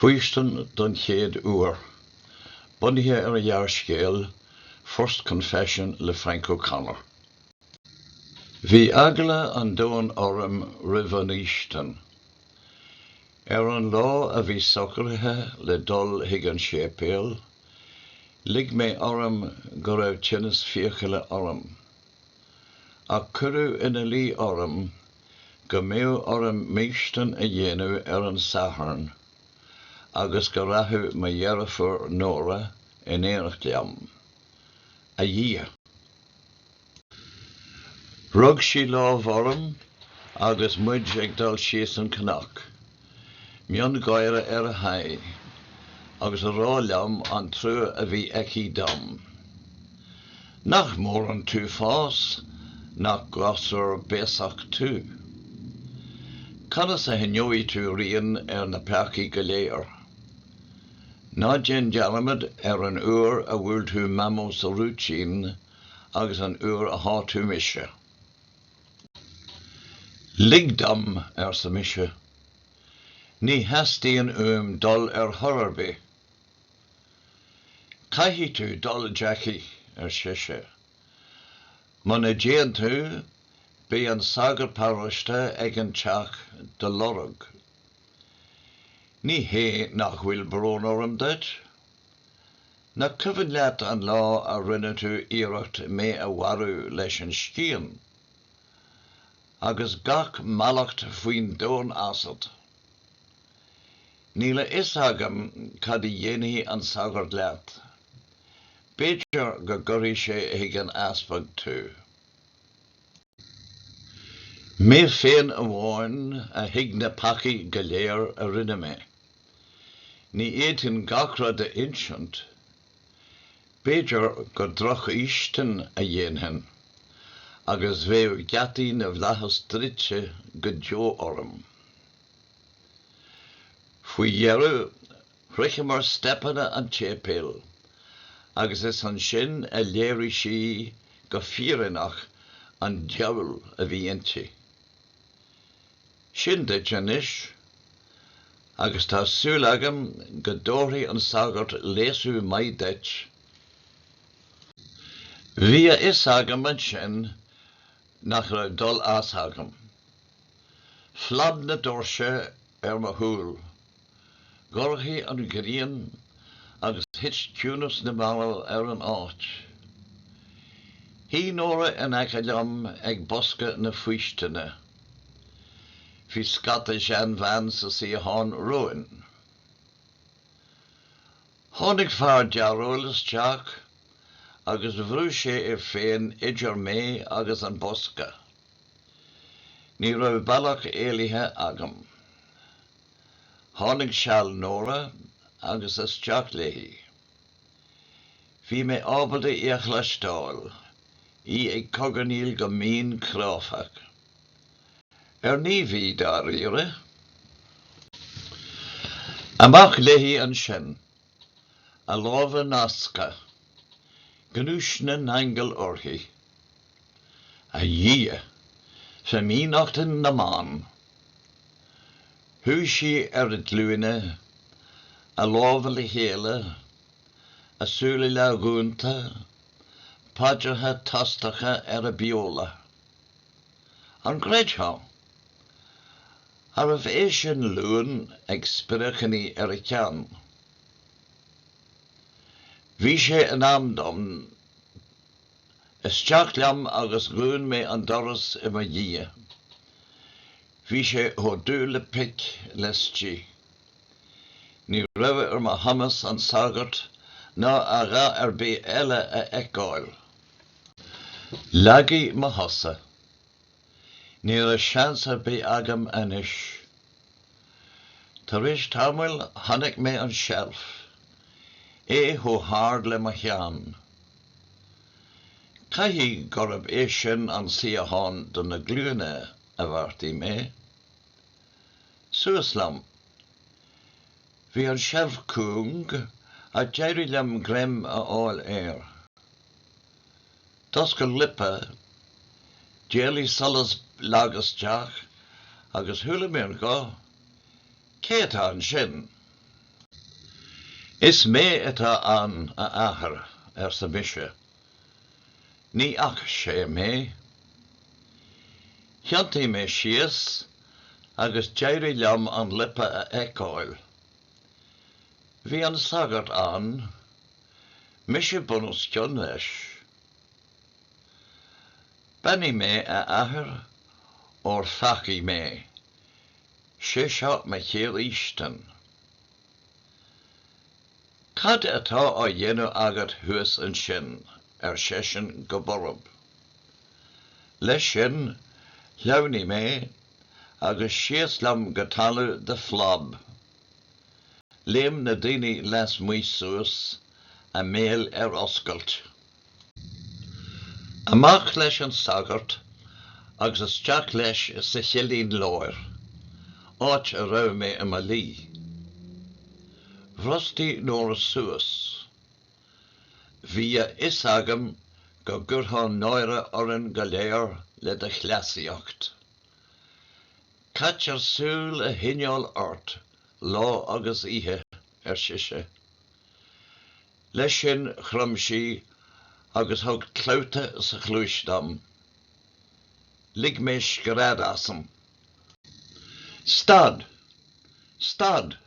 Faoistin don chéad uair. Bunaithe ar an ghearrscéal First Confession le Frank O'Connor. Bhí eagla an domhain orm roimh an fhaoistin. Ar an lá a bhí socraithe le dul chuig an séipéal, lig mé orm go raibh tinneas fiacaile orm. Ach cuireadh ina luí orm go mbeadh orm m'fhaoistin a dhéanamh ar an Satharn agus go rachadh mo dheirfiúr Nóra in éineacht liom. A Dhia! Rug sí lámh orm agus muid ag dul síos an cnoc. miongháire ar a haghaidh, agus ag rá liom an trua a bhí aici dom. Nach mór an t-uafás nach gasúr béasach tú? Conas a choinneoidh tú rian ar na peacaí go léir? Ná déan dearmad ar an uair a bhuail tú Mamó sa rúitín agus an uair a shá tú mise. Lig dom, arsa mise. Ní theastaíonn uaim dul ar chor ar bith. Caithfidh tú dul, Jackie, ar sise. Muna dtéann tú, beidh an sagart paróiste ag an teach do lorg. Ní hé nach bhfuil brón orm duit. Nach cuimhin leat an lá a rinne tú iarracht mé a mharú leis an scian, agus gach mallacht faoin domhan asat? Níl a fhios agam cad a dhéanfaidh an sagart leat. B'fhéidir go gcuirfidh sé chuig an easpag tú. Mé féin amháin a thuig na peacaí go léir a rinne mé. Ní fhéadfainn gach rud a insint. B'fhéidir gur drochfhaoistin a dhéanfainn agus bheadh geataí na bhflaitheas druidte go deo orm. Faoi dheireadh Shroicheamar steipeanna an tséipéil agus is ansin a léirigh sí go fírinneach an diabhal a bhí inti. Sin duit anois, agus tá súil agam go dtabharfaidh an sagart léasadh maith duit. Bhí a fhios agam ansin nach raibh dul as agam. Phlab na doirse ar mo chúl. Dhorchaigh an ghrian agus thit ciúnas na marbh ar an áit. Shuigh Nóra in aice liom ag bosca na faoistine. Bhí scata seanbhean sa suíochán romhainn. Tháinig fear dearóil isteach agus bhrúigh sé é féin idir mé agus an bosca. Ní raibh bealach éalaithe agam. Tháinig seal Nóra agus isteach léi. Bhí mé ábalta í a chloisteáil, í ag cogarnaíl go mín cráifeach. Ar naomh í, dáiríre? Amach léi ansin A lámha nasctha, gnúis na n-aingeal uirthi. A Dhia, fimíneachta na mban! Shuigh sí ar a glúine, a lámha le chéile, a súile leathdhúnta, paidreacha tostacha ar a beola. An gcreidfeá? Arbh é sin luan ag spréacharnaí ar a ceann? Bhí sé in am dom. Isteach liom agus dhún mé an doras i mo dhiaidh. Bhí sé chomh dubh le pic laistigh. Ní raibh ar mo chumas an sagart ná a dhath ar bith eile a fheiceáil. Lagaigh mo chosa. Ní raibh seans ar bith agam anois. Tar éis tamaill chonaic mé an seilf, é chomh hard le mo cheann. Caithfidh gurb é sin an suíochán do na glúine, a bheartaigh mé. Suas liom. Bhí an seilf cúng ach d'éirigh liom greim a fháil air. D'oscail liopa, d'éalaigh solas lag isteach agus chuala mé an guth, Cé atá ansin? Is mé atá ann, a Athair, arsa mise. Ní fhaca sé mé. Thiontaigh mé síos agus d'éirigh liom an liopa a fheiceáil. Bhí an sagart ann. Mise bunoscionn leis. Beannaigh mé a athair óir pheacaigh mé. Sé seo mo chéad fhaoistin. Cad atá á dhéanamh agat thuas ansin? ar seisean go borb. Leis sin, shleamhnaigh mé agus síos liom go talamh de phlab. Léim na daoine lasmuigh suas, a mbéal ar oscailt. Amach leis an sagart agus isteach leis sa chillín láir, áit a raibh mé i mo luí. Bhrostaigh Nóra suas. Bhí a fhios agam go gcuirfeá náire orainn go léir le do chleasaíocht. Caithfear súil a choinneáil ort lá agus oíche, ar sise. Leis sin chrom sí agus thug clabhta sa chluais dom. Lig mé scread asam. Stad! Stad!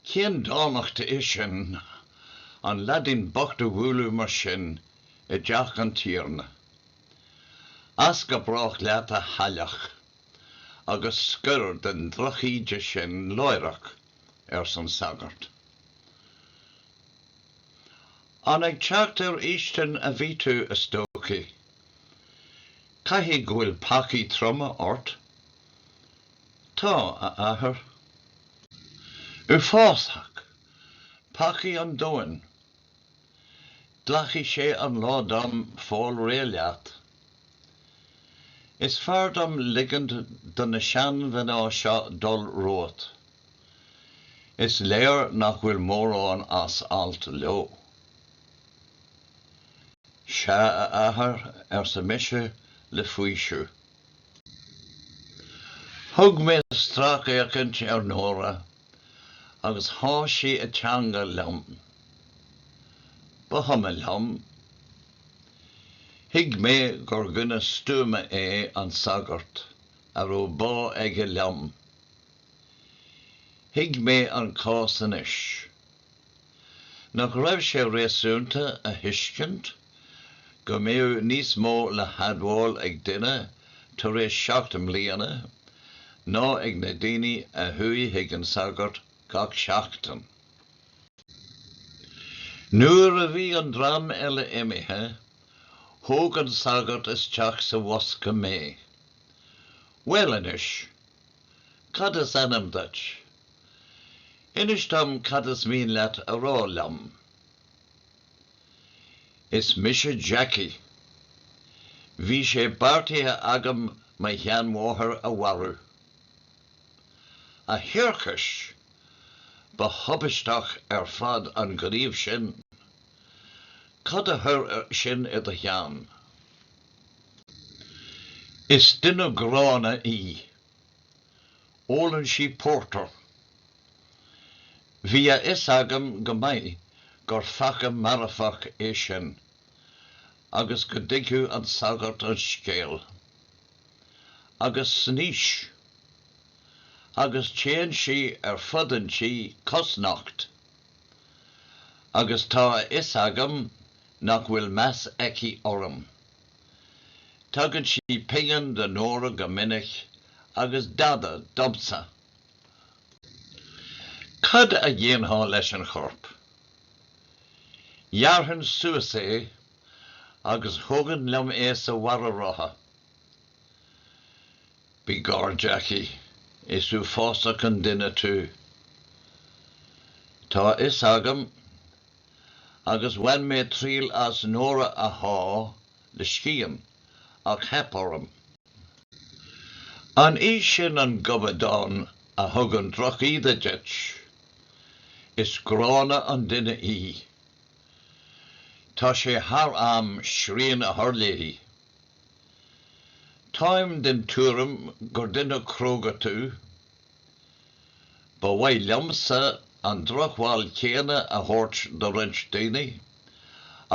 Cén dánacht é sin, an leaidín bocht a bhualadh mar sin i dteach an tiarna. As go brách leat, a chailleach, agus scoir den drochíde sin láithreach, arsa an sagart. An ag teacht ar fhaoistin a bhí tú, a stócaigh? Caithfidh go bhfuil peacaí troma ort? Tá, a Athair. Uafásach. Peacaí an domhain. Glacfaidh sé an lá dom fáil réidh leat. Is fearr dom ligint do na seanmhná seo dul romhat. Is léir nach bhfuil mórán as alt leo. Sea, a Athair, arsa mise le faoiseamh. Thug mé stracfhéachaint ar Nóra agus sháith sí a teanga liom. Ba chuma liom. Thuig mé gur dhuine stuama é an sagart a raibh bá aige liom. Thuig mé an cás anois. Nach raibh sé réasúnta a thuiscint go mbeadh níos mó le hadmháil ag duine tar éis seacht mbliana ná ag na daoine a chuaigh chuig an sagart gach seachtain? Nuair a bhí an dream eile imithe, thóg an sagart isteach sa bhosca mé. Bhuel anois, cad is ainm duit? Inis dom cad is mian leat a rá liom. Is mise Jackie. Bhí sé beartaithe agam mo sheanmháthair a mharú. A thiarcais! Ba thubaisteach ar fad an gníomh sin. Cad a chuir sin i do cheann? Is duine gránna í. Ólann sí pórtar. Bhí a fhios agam go maith gur pheaca marfach é sin agus go dtuigfeadh an sagart an scéal. Agus snaois. Agus téann sí ar fud an tí cosnocht. Agus tá a fhios agam nach bhfuil meas aici orm. Tugann sí pingin do Nóra go minic agus dada domsa. Cad a dhéanfá leis an chorp? Ghearrfainn suas é agus thabharfainn liom é sa bharra rotha. By gor Jackie, is uafásach an duine tú. Tá a fhios agam agus bhain mé triail as Nóra a shá le scian, ach theip orm. An í sin an gobadán a thugann drochíde duit? Is gránna an duine í. Tá sé thar am srian a chur léi. Táim den tuairim gur duine cróga tú, Ba mhaith liomsa an drochbhail chéanna a thabhairt do roinnt daoine,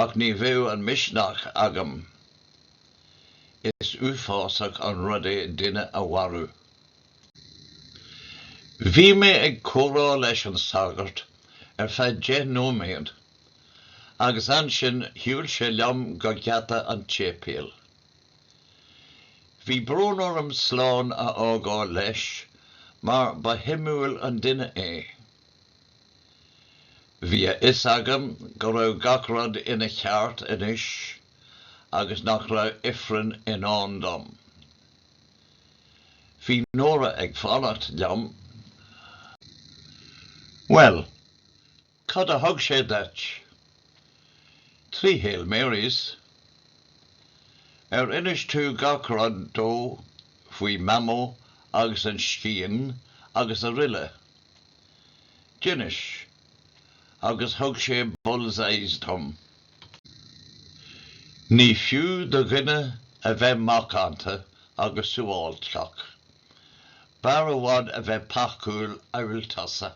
ach ní bheadh an misneach agam. Is uafásach an rud é duine a mharú. Bhí mé ag comhrá leis an sagart ar feadh deich nóiméad agus ansin shiúil sé liom go geata an tséipéil. Bhí brón orm slán a fhágáil leis mar ba shuimiúil an duine é. Bhí a fhios agam go raibh gach rud ina cheart anois agus nach raibh ifreann i ndán dom. Bhí Nóra ag fanacht liom. Bhuel, Cad a thug sé duit? Trí Hail Marys. Ar inis tú gach rud dó faoi Mamó agus an scian agus araile? D'inis. Agus thug sé bull's eyes dom. Ní fiú do dhuine a bheith macánta agus suáilceach. B'fhearr i bhfad a bheith peacúil amhail tusa.